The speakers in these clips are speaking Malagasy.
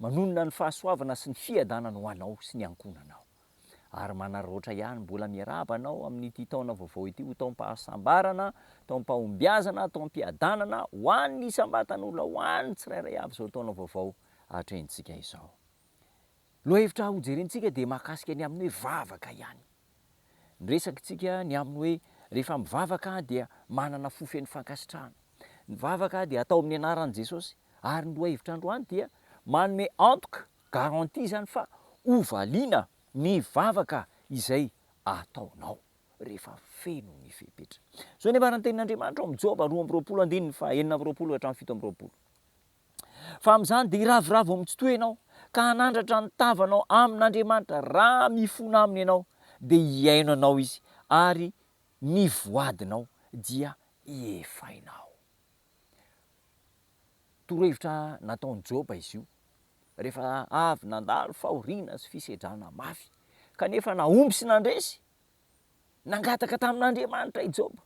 Manonona ny fahasoavana sy ny fiadanana ho anao sy ny ankohonanao. Ary manararaotra ihany mbola miarahaba anao amin'ity taona vaovao ity ho taom-pahasambarana, taom-pahombiazana, taom-piadanana ho an'ny isam-batan'olona, ho an'ny tsirairay avy izao taona vaovao atrehintsika izao. Lohahevitra hojerentsika dia mahakasika ny amin'ny hoe vavaka ihany. Ny resaka tsika ny aminy hoe rehefa mivavaka aho dia manana fo feno fankasitrahana. Ny vavaka dia atao amin'ny anaran'i Jesosy ary ny lohahevitra androany dia manome antoka, garantie, izany fa hovaliana ny vavaka izay ataonao rehefa feno ny fepetra. Zao ny ambara ny tenin'Andriamanitra ao amin'ny Joba roa amby roapolo andininy faha enina amby roapolo hatramin'ny fito amby roapolo. Fa amin'izany dia hiravoravo amin'ny tsy toy ianao, ka hanandratra ny tavanao amin'Andriamanitra, raha mifona aminy ianao, dia hihaino anao izy, ary ny voadinao dia hiefainao. Torohevitra nataon'i Joba izy io, rehefa avy nandalo fahoriana sy fisedrana mafy, kanefa nahomby sy nandresy Nangataka tamin'Andriamanitra i Joba,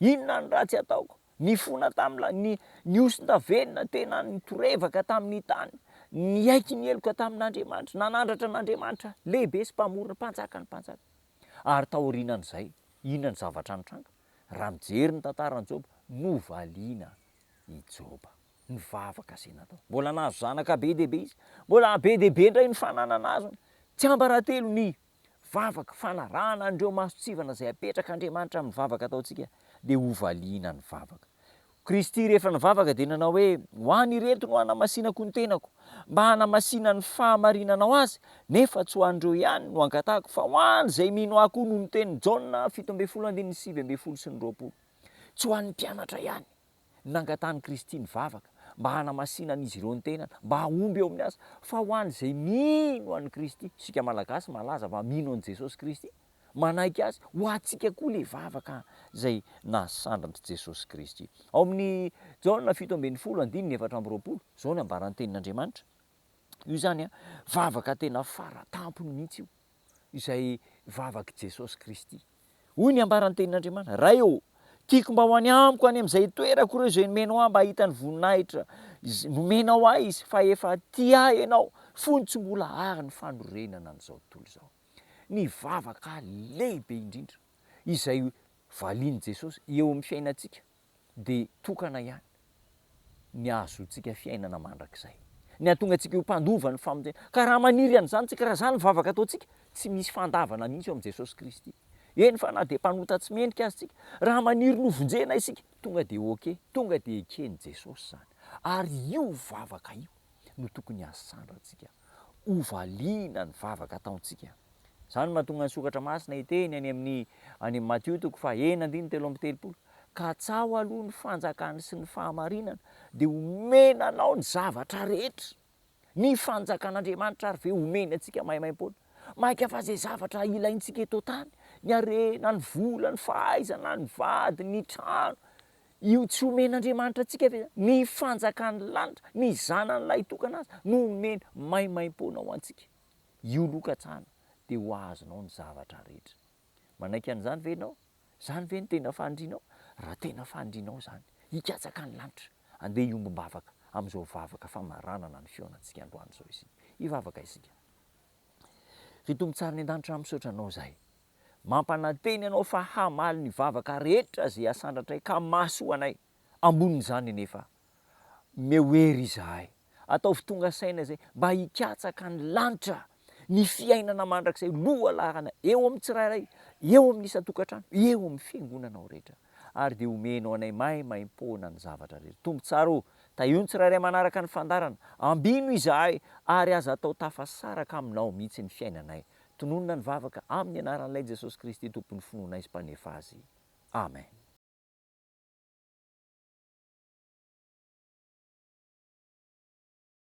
Inona ny ratsy ataoko? Nifona tamin'ilay, ni, nihosonta velona tena nitorevaka tamin'ny tany, niaiky ny heloka tamin'Andriamanitra, nanandratra an'Andriamanitra Lehibe sy Mpamorona, Mpanjakan'ny mpanjaka. Ary taorianan'izay, inona no zavatra nitranga? Raha mijery ny tantaran'i Joba, novaliana i Joba. Nivavaka izay natao. Mbola nahazo zanaka be dia be izy. Mbola be dia be indray ny fananana azony. Tsiambaratelo ny vavaka fanarahana an'ireo masontsivana izay apetrak'Andriamanitra amin'ny vavaka ataontsika, dia hovaliana ny vavaka. Kristy rehefa nivavaka dia nanao hoe, Ho an'ireto no hanamasinako ny tenako, mba hanamasinany ny fahamarinanao azy, nefa tsy ho an'ireo ihany no angatahako, fa ho an'izay mino Ahy koa, noho ny tenin'i Jaona fito ambin'ny folo andininy sivy ambin'ny folo sy ny roapolo. Tsy ho an'ny mpianatra ihany. nangatahan'i Kristy nivavaka mba hanamasinan'izy ireo ny tenany, mba hahomby eo amin'ny asa, fa ho an'izay mino an'i Kristy, isika Malagasy malaza fa mino an'i Jesosy Kristy, manaiky Azy, ho antsika koa ilay vavaka izay nahasandran'i Jesosy Kristy. Ao amin'ny Jaona fito ambin'ny folo andininy efatra amby roapolo, izao no ambaran'ny Tenin'Andriamanitra. Io zany an, vavaka tena fara tampony mihitsy io, izay vavak'i Jesosy Kristy. Hoy ny ambaran'ny Tenin'Andriamanitra, Ray ô, tiako mba ho any amiko any amin'izay itoerako ireo izay nomenao ahy mba hahita ny voninahitra izay nomenao ahy izy, fa efa tia ahy ianao, fony tsy mbola àry ny fanorenana an'izao tontolo izao. Ny vavaka lehibe indrindra izay valian'i Jesosy eo amin'ny fiainantsika dia tokana ihany ny hahazoantsika fiainana mandrakizay. Ny hahatonga antsika ho mpandova ny famonjena. Ka raha maniry an'izany isika, raha izany ny vavaka ataontsika, tsy misy fandavana mihitsy eo amin'i Jesosy Kristy. Eny fa na dia mpanota tsy mendrika aza isika, raha maniry ny ho vonjena isika, tonga dia ok, tonga dia eken'i Jesosy izany. Ary io vavaka io no tokony hahasandra antsika. hovaliana ny vavaka ataontsika. Izany no mahatonga ny Soratra Masina hiteny any amin'ny any amin'i Matio toko faha enina andininy telo amby telopolo, Katsaho aloha ny fanjakany sy ny fahamarinany, dia homena anao ny zavatra rehetra. Ny fanjakan'Andriamanitra ary ve homeny antsika maimaimpoana? Mainka fa izay zavatra ilaintsika eto an-tany, ny harena, ny vola, ny fahaizana, ny vady, ny trano, Io tsy omen'Andriamanitra antsika ve izany? Ny fanjakan'ny lanitra, ny Zanany lahitokana Azy no omeny maimaimpoana ho antsika. Io aloha katsahana, dia ho azonao ny zavatra rehetra. Manaiky an'izany ve ianao? Izany ve no tena fanirianao? Raha tena fanirianao izany, hikatsaka ny lanitra, andeha hiombom-bavaka amin'izao vavaka famaranana ny fihaonantsika androany izao isika. Hivavaka isika. Ry Tompo tsara any an-danitra, misaotra Anao izahay. Mampanantena ianao fa hamaly ny vavaka rehetra izay asandratray ka mahasoa anay. Ambonin'izany anefa, omeo hery izahay. Ataovy tonga saina izay mba hikatsaka ny lanitra, ny fiainana mandrakizay lohalarana eo amin'ny tsirairay, eo amin'ny isan-tokantrano, eo amin'ny fiangonanao rehetra. Ary dia omenao anay maimaim-poana ny zavatra rehetra. Tompo tsara ô, tahio ny tsirairay manaraka ny fandaharana. Ambino izahay ary aza atao tafasaraka aminao mihitsy ny fiainanay. Tononina ny vavaka amin'ny anaran'Ilay Jesosy Kristy Tompon'ny finoanay sy Mpanefa azy. Amen.